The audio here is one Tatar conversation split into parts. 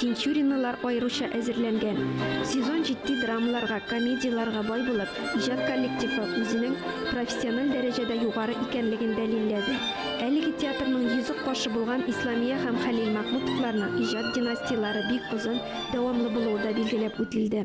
Тинчуринлылар аеруча әзерләнгән. Сезон җитди драмаларга, комедияләргә бай булып, иҗат коллективы үзенең профессиональ дәрәҗәдә югары икәнлеген дәлилләде. Әлеге театрның йөзек кашы булган Исламия һәм Хәлил Мәхмүтовларның иҗат династияләре бик озын, дәвамлы булуы да билгеләп үтелде.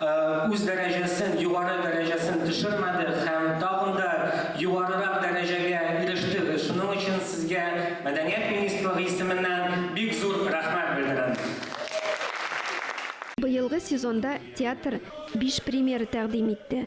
үз дәрәҗәсен, югары дәрәҗәсен төшермәде һәм тагын да югарырак дәрәҗәгә иреште. Шуның өчен сезгә мәдәният министрлыгы исеменнән бик зур рәхмәт белдерәм. Быелгы сезонда театр биш премьера тәкъдим итте.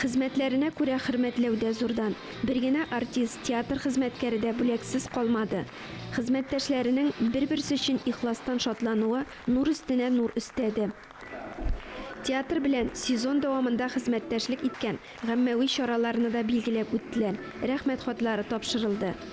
Хезмәтләренә күрә хөрмәтләү дә зурдан. Бер генә артист, театр хезмәткәре дә бүләксез калмады. Хезмәттәшләренең бер-берсе өчен ихластан шатлануы нур өстенә нур өстәде. Театр белән сезон дәвамында хезмәттәшлек иткән гаммәви чараларны да билгеләп үттеләр, рәхмәт хатлары тапшырылды.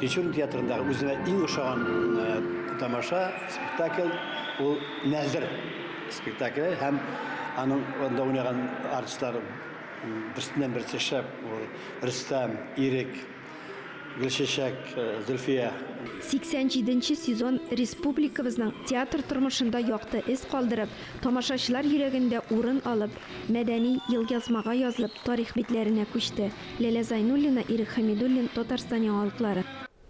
Тинчурин театрындагы үземә иң ошаган тамаша, спектакль ул Нәзер спектакле һәм аның анда уйнаган артистлар берсеннән берсе шәп. Рөстәм, Ирек, Гөлчәчәк, Зөлфия. 87 нче сезон республикабызның театр тормышында якты эз калдырып, тамашачылар йөрәгендә урын алып, Мәдәни елъязмага язылып, тарих битләренә күчте. Ләлә Зайнуллина, Ирек Хәмидуллин, Татарстан яңалыклары.